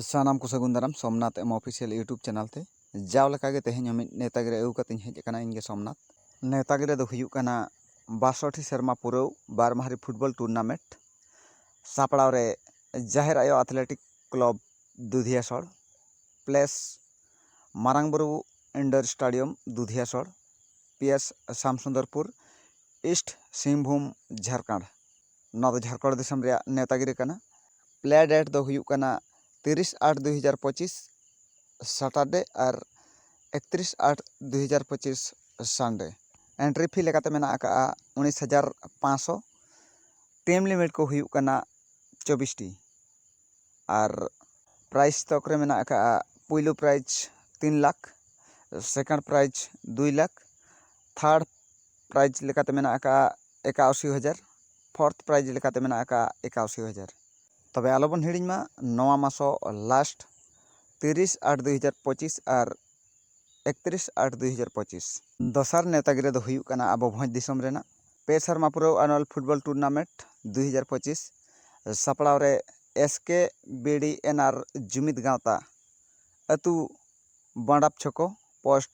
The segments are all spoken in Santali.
ᱥᱟᱱᱟᱢ ᱠᱚ ᱥᱟᱹᱜᱩᱱ ᱫᱟᱨᱟᱢ Somnath M official YouTube channel ᱛᱮ ᱡᱟᱣ ᱞᱮᱠᱟ ᱜᱮ ᱛᱮᱦᱮᱧ ᱦᱚᱸ ᱢᱤᱫ ᱱᱮᱣᱛᱟ ᱜᱤᱨᱟᱹ ᱟᱹᱜᱩ ᱠᱟᱛᱮᱧ ᱦᱮᱡ ᱟᱠᱟᱱᱟ ᱤᱧ ᱜᱮ ᱥᱚᱢᱱᱟᱛᱷ ᱱᱮᱣᱛᱟ ᱜᱤᱨᱟᱹ ᱫᱚ ᱦᱩᱭᱩᱜ ᱠᱟᱱᱟ ᱵᱟᱥᱚᱴᱤ ᱥᱮᱨᱢᱟ ᱯᱩᱨᱟᱹᱣ ᱵᱟᱨ ᱢᱟᱦᱟᱨᱤ ᱯᱷᱩᱴᱵᱚᱞ ᱴᱩᱨᱱᱟᱢᱮᱱᱴ ᱥᱟᱯᱲᱟᱣ ᱨᱮ ᱡᱟᱦᱮᱨ ᱟᱭᱳ ᱟᱛᱷᱞᱮᱴᱤᱠ ᱠᱞᱚᱵᱽ ᱫᱩᱫᱷᱤᱭᱟ ᱥᱚᱲ ᱯᱞᱮᱥ ᱢᱟᱨᱟᱝ ᱵᱩᱨᱩ ᱤᱱᱰᱳᱨ ᱥᱴᱟᱰᱤᱭᱚᱢ ᱫᱩᱫᱷᱤᱭᱟ ᱥᱚᱲ ᱯᱤ ᱮᱥ ᱥᱟᱢ ᱥᱩᱱᱫᱚᱨᱯᱩᱨ ᱤᱥᱴ ᱥᱤᱝᱵᱷᱩᱢ ᱡᱷᱟᱲᱠᱷᱚᱸᱰ ᱱᱚᱣᱟ ᱫᱚ ᱡᱷᱟᱲᱠᱷᱚᱸᱰ ᱫᱤᱥᱚᱢ ᱨᱮᱭᱟᱜ ᱱᱮᱣᱛᱟ ᱜᱤᱨᱟᱹ ᱠᱟᱱᱟ ᱯᱞᱮ ᱰᱮᱴ ᱫᱚ ᱦᱩᱭᱩᱜ ᱠᱟᱱᱟ ᱛᱤᱨᱤᱥ ᱟᱴ ᱫᱩᱭ ᱦᱟᱡᱟᱨ ᱯᱚᱸᱪᱤᱥ ᱥᱟᱴᱟᱨᱰᱮ ᱟᱨ ᱮᱠᱛᱨᱤᱥ ᱟᱴ ᱫᱩᱭ ᱦᱟᱡᱟᱨ ᱯᱚᱸᱪᱤᱥ ᱥᱟᱱᱰᱮ ᱮᱱᱴᱨᱤ ᱯᱷᱤ ᱞᱮᱠᱟᱛᱮ ᱢᱮᱱᱟᱜ ᱟᱠᱟᱫᱼᱟ ᱩᱱᱤᱥ ᱦᱟᱡᱟᱨ ᱯᱟᱸᱥᱥᱳ ᱴᱤᱢ ᱞᱤᱢᱤᱴ ᱠᱚ ᱦᱩᱭᱩᱜ ᱠᱟᱱᱟ ᱪᱚᱵᱽᱵᱤᱥ ᱴᱤ ᱟᱨ ᱯᱨᱟᱭᱤᱡᱽ ᱛᱷᱚᱠ ᱨᱮ ᱢᱮᱱᱟᱜ ᱟᱠᱟᱫᱼᱟ ᱯᱳᱭᱞᱳ ᱯᱨᱟᱭᱤᱡᱽ ᱛᱤᱱ ᱞᱟᱠᱷ ᱥᱮᱠᱮᱱᱰ ᱯᱨᱟᱭᱤᱡᱽ ᱫᱩᱭ ᱞᱟᱠᱷ ᱛᱷᱟᱨᱰ ᱯᱨᱟᱭᱤᱡᱽ ᱞᱮᱠᱟᱛᱮ ᱢᱮᱱᱟᱜ ᱟᱠᱟᱫᱼᱟ ᱮᱠᱟᱥᱤ ᱦᱟᱡᱟᱨ ᱯᱷᱳᱨᱛᱷ ᱯᱨᱟᱭᱤᱡᱽ ᱞᱮᱠᱟᱛᱮ ᱢᱮᱱᱟᱜ ᱟᱠᱟᱫᱼᱟ ᱮᱠᱟᱥᱤ ᱦᱟᱡᱟᱨ ᱛᱚᱵᱮ ᱟᱞᱚ ᱵᱚᱱ ᱦᱤᱲᱤᱧ ᱢᱟ ᱱᱚᱣᱟ ᱢᱟᱥ ᱦᱚᱸ ᱞᱟᱥᱴ ᱛᱤᱨᱤᱥ ᱟᱴ ᱫᱩ ᱦᱟᱡᱟᱨ ᱯᱚᱸᱪᱤᱥ ᱟᱨ ᱮᱠᱛᱨᱤᱥ ᱟᱴ ᱫᱩ ᱦᱟᱡᱟᱨ ᱯᱚᱸᱪᱤᱥ ᱫᱚᱥᱟᱨ ᱱᱮᱶᱛᱟ ᱜᱤᱨᱟᱹ ᱫᱚ ᱦᱩᱭᱩᱜ ᱠᱟᱱᱟ ᱟᱵᱚ ᱵᱷᱚᱸᱡᱽ ᱫᱤᱥᱚᱢ ᱨᱮᱱᱟᱜ ᱯᱮ ᱥᱮᱨᱢᱟ ᱯᱩᱨᱟᱹᱣ ᱟᱱᱩᱣᱟᱞ ᱯᱷᱩᱴᱵᱚᱞ ᱴᱩᱨᱱᱟᱢᱮᱱᱴ ᱫᱩ ᱦᱟᱡᱟᱨ ᱯᱚᱸᱪᱤᱥ ᱥᱟᱯᱲᱟᱣ ᱨᱮ ᱮᱥ ᱠᱮ ᱵᱤ ᱰᱤ ᱮᱱ ᱟᱨ ᱡᱩᱢᱤᱫᱽ ᱜᱟᱶᱛᱟ ᱟᱹᱛᱩ ᱵᱟᱰᱟᱯ ᱪᱷᱚᱠᱚ ᱯᱳᱥᱴ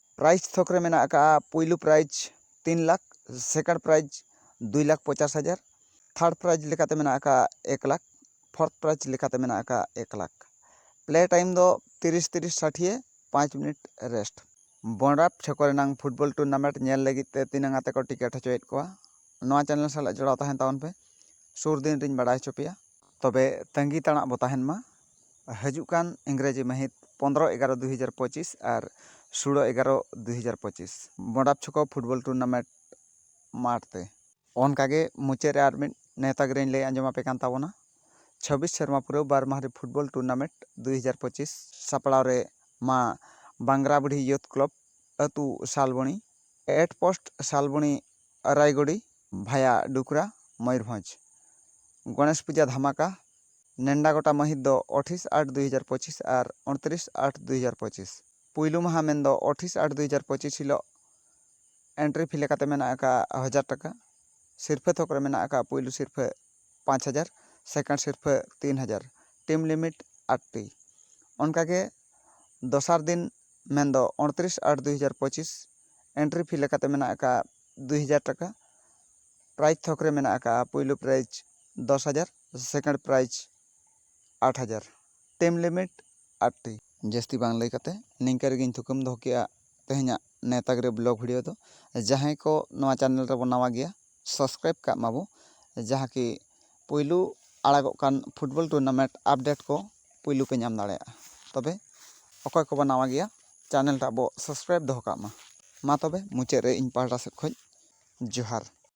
ᱯᱨᱟᱭᱤᱡᱽ ᱛᱷᱚᱠ ᱨᱮ ᱢᱮᱱᱟᱜ ᱟᱠᱟᱫᱼᱟ ᱯᱩᱭᱞᱩ ᱯᱨᱟᱭᱤᱡᱽ ᱛᱤᱱ ᱞᱟᱠᱷ ᱥᱮᱠᱮᱱᱰ ᱯᱨᱟᱭᱤᱡᱽ ᱫᱩᱭ ᱞᱟᱠᱷ ᱯᱚᱪᱟᱥ ᱦᱟᱡᱟᱨ ᱛᱷᱟᱨᱰ ᱯᱨᱟᱭᱤᱡᱽ ᱞᱮᱠᱟᱛᱮ ᱢᱮᱱᱟᱜ ᱟᱠᱟᱫᱼᱟ ᱮᱠ ᱞᱟᱠᱷ ᱯᱷᱳᱨᱛᱷ ᱯᱨᱟᱭᱤᱡᱽ ᱞᱮᱠᱟᱛᱮ ᱢᱮᱱᱟᱜ ᱟᱠᱟᱫᱼᱟ ᱮᱠ ᱞᱟᱠᱷ ᱯᱞᱮ ᱴᱟᱭᱤᱢ ᱫᱚ ᱛᱤᱨᱤᱥ ᱛᱤᱨᱤᱥ ᱥᱟᱴᱷᱤᱭᱮ ᱯᱟᱸᱪ ᱢᱤᱱᱤᱴ ᱨᱮᱥᱴ ᱵᱚᱱᱨᱟᱯ ᱪᱷᱚᱠᱚ ᱨᱮᱱᱟᱝ ᱯᱷᱩᱴᱵᱚᱞ ᱴᱩᱨᱱᱟᱢᱮᱱᱴ ᱧᱮᱞ ᱞᱟᱹᱜᱤᱫ ᱛᱮ ᱛᱤᱱᱟᱹᱝ ᱟᱛᱮ ᱠᱚ ᱴᱤᱠᱮᱴ ᱦᱚᱪᱚᱭᱮᱫ ᱠᱚᱣᱟ ᱱᱚᱣᱟ ᱪᱮᱱᱮᱞ ᱥᱟᱞᱟᱜ ᱡᱚᱲᱟᱣ ᱛᱟᱦᱮᱱ ᱛᱟᱵᱚᱱ ᱯᱮ ᱥᱩᱨ ᱫᱤᱱ ᱨᱤᱧ ᱵᱟᱲᱟᱭ ᱦᱚᱪᱚ ᱯᱮᱭᱟ ᱛᱚᱵᱮ ᱛᱟᱺᱜᱤ ᱛᱟᱲᱟᱜ ᱵᱚ ᱛᱟᱦᱮᱱ ᱢᱟ ᱦᱤᱡᱩᱜ ᱠᱟᱱ ᱤᱝᱨᱮᱡᱤ ᱢᱟᱹᱦᱤᱛ ᱯᱚᱸᱫᱽᱨᱚ ᱮᱜᱟᱨᱚ ᱫᱩ ᱦᱟᱡᱟᱨ ᱯᱚᱸᱪᱤᱥ ᱟᱨ ᱥᱳᱞᱳ ᱮᱜᱟᱨᱚ ᱫᱩ ᱦᱟᱡᱟᱨ ᱯᱚᱸᱪᱤᱥ ᱵᱚᱰᱟᱯ ᱪᱷᱚᱠᱚ ᱯᱷᱩᱴᱵᱚᱞ ᱴᱩᱨᱱᱟᱢᱮᱱᱴ ᱢᱟᱴᱷ ᱛᱮ ᱚᱱᱠᱟ ᱜᱮ ᱢᱩᱪᱟᱹᱫ ᱨᱮ ᱟᱨ ᱢᱤᱫ ᱱᱮᱶᱛᱟ ᱜᱤᱨᱟᱹᱧ ᱞᱟᱹᱭ ᱟᱸᱡᱚᱢ ᱟᱯᱮ ᱠᱟᱱ ᱛᱟᱵᱚᱱᱟ ᱪᱷᱟᱵᱽᱵᱤᱥ ᱥᱮᱨᱢᱟ ᱯᱩᱨᱟᱹᱣ ᱵᱟᱨ ᱢᱟᱦᱟ ᱨᱮ ᱯᱷᱩᱴᱵᱚᱞ ᱴᱩᱨᱱᱟᱢᱮᱱᱴ ᱫᱩ ᱦᱟᱡᱟᱨ ᱯᱚᱸᱪᱤᱥ ᱥᱟᱯᱲᱟᱣ ᱨᱮ ᱢᱟ ᱵᱟᱝᱜᱽᱨᱟ ᱵᱩᱰᱷᱤ ᱭᱩᱛᱷ ᱠᱞᱚᱵᱽ ᱟᱹᱛᱩ Salboni at post Salboni Araigori via Dukra Mayurbhanj. Ganesh puja ᱫᱷᱟᱢᱟᱠᱟ᱾ ᱱᱮᱱᱰᱟ ᱜᱚᱴᱟ ᱢᱟᱹᱦᱤᱛ ᱫᱚ ᱚᱴᱷᱤᱥ ᱟᱴ ᱫᱩᱭ ᱦᱟᱡᱟᱨ ᱯᱚᱸᱪᱤᱥ ᱟᱨ ᱚᱬᱛᱨᱤᱥ ᱟᱴ ᱫᱩᱭ ᱦᱟᱡᱟᱨ ᱯᱚᱸᱪᱤᱥ᱾ ᱯᱩᱭᱞᱩ ᱢᱟᱦᱟᱸ ᱢᱮᱱ ᱫᱚ ᱚᱴᱷᱤᱥ ᱟᱴ ᱫᱩᱭ ᱦᱟᱡᱟᱨ ᱯᱚᱸᱪᱤᱥ ᱦᱤᱞᱚᱜ᱾ ᱮᱱᱴᱨᱤ ᱯᱷᱤ ᱞᱮᱠᱟᱛᱮ ᱢᱮᱱᱟᱜ ᱟᱠᱟᱫᱼᱟ ᱦᱟᱡᱟᱨ ᱴᱟᱠᱟ᱾ ᱥᱤᱨᱯᱷᱟᱹ ᱛᱷᱚᱠ ᱨᱮ ᱢᱮᱱᱟᱜ ᱟᱠᱟᱫᱼᱟ ᱯᱩᱭᱞᱩ ᱥᱤᱨᱯᱷᱟᱹ ᱯᱟᱸᱪ ᱦᱟᱡᱟᱨ, ᱥᱮᱠᱮᱱᱰ ᱥᱤᱨᱯᱷᱟᱹ ᱛᱤᱱ ᱦᱟᱡᱟᱨ᱾ Team limit eighty. ᱚᱱᱠᱟ ᱜᱮ ᱫᱚᱥᱟᱨ ᱫᱤᱱ ᱢᱮᱱ ᱫᱚ ᱚᱬᱛᱨᱤᱥ ᱟᱴ ᱫᱩᱭ ᱦᱟᱡᱟᱨ ᱯᱚᱸᱪᱤᱥ ᱮᱱᱴᱨᱤ ᱯᱷᱤ ᱞᱮᱠᱟᱛᱮ ᱢᱮᱱᱟᱜ ᱟᱠᱟᱫᱼᱟ ᱫᱩᱭ ᱦᱟᱡᱟᱨ ᱴᱟᱠᱟ ᱯᱨᱟᱭᱤᱡᱽ ᱛᱷᱚᱠ ᱨᱮ ᱢᱮᱱᱟᱜ ᱟᱠᱟᱫᱼᱟ ᱯᱳᱭᱞᱳ ᱯᱨᱟᱭᱤᱡᱽ ᱫᱚᱥ ᱦᱟᱡᱟᱨ ᱥᱮᱠᱮᱱᱰ ᱯᱨᱟᱭᱤᱡᱽ ᱟᱴ ᱦᱟᱡᱟᱨ ᱴᱟᱭᱤᱢ ᱞᱤᱢᱤᱴ ᱟᱴ ᱴᱤ ᱡᱟᱹᱥᱛᱤ ᱵᱟᱝ ᱞᱟᱹᱭ ᱠᱟᱛᱮᱫ ᱱᱤᱝᱠᱟᱹ ᱨᱮᱜᱮᱧ ᱛᱷᱩᱠᱟᱹᱢ ᱫᱚᱦᱚ ᱠᱮᱫᱼᱟ ᱛᱮᱦᱮᱧᱟᱜ ᱱᱮᱣᱛᱟ ᱜᱤᱨᱟᱹ ᱵᱞᱚᱜᱽ ᱵᱷᱤᱰᱭᱳ ᱫᱚ ᱡᱟᱦᱟᱸᱭ ᱠᱚ ᱱᱚᱣᱟ ᱪᱮᱱᱮᱞ ᱨᱮᱵᱚᱱ ᱱᱟᱣᱟ ᱜᱮᱭᱟ ᱥᱟᱵᱥᱠᱨᱟᱭᱤᱵ ᱠᱟᱜ ᱢᱟᱵᱚ ᱡᱟᱦᱟᱸ ᱠᱤ ᱯᱩᱭᱞᱩ ᱟᱲᱟᱜᱚᱜ ᱠᱟᱱ ᱯᱷᱩᱴᱵᱚᱞ ᱴᱩᱨᱱᱟᱢᱮᱱᱴ ᱟᱯᱰᱮᱴ ᱠᱚ ᱯᱩᱭᱞᱩ ᱯᱮ ᱧᱟᱢ ᱫᱟᱲᱮᱭᱟᱜᱼᱟ ᱛᱚᱵᱮ ᱚᱠᱚᱭ ᱠᱚᱵᱚ ᱱᱟᱣᱟ ᱜᱮᱭᱟ ᱪᱮᱱᱮᱞ ᱴᱟᱜ ᱵᱚ ᱥᱟᱵᱥᱠᱨᱟᱭᱤᱵ ᱫᱚᱦᱚ ᱠᱟᱜ ᱢᱟ ᱢᱟ ᱛᱚᱵᱮ ᱢᱩᱪᱟᱹᱫ ᱨᱮ ᱤᱧ ᱯᱟᱦᱴᱟ ᱥᱮᱫ ᱠᱷᱚᱱ ᱡᱚᱦᱟᱨ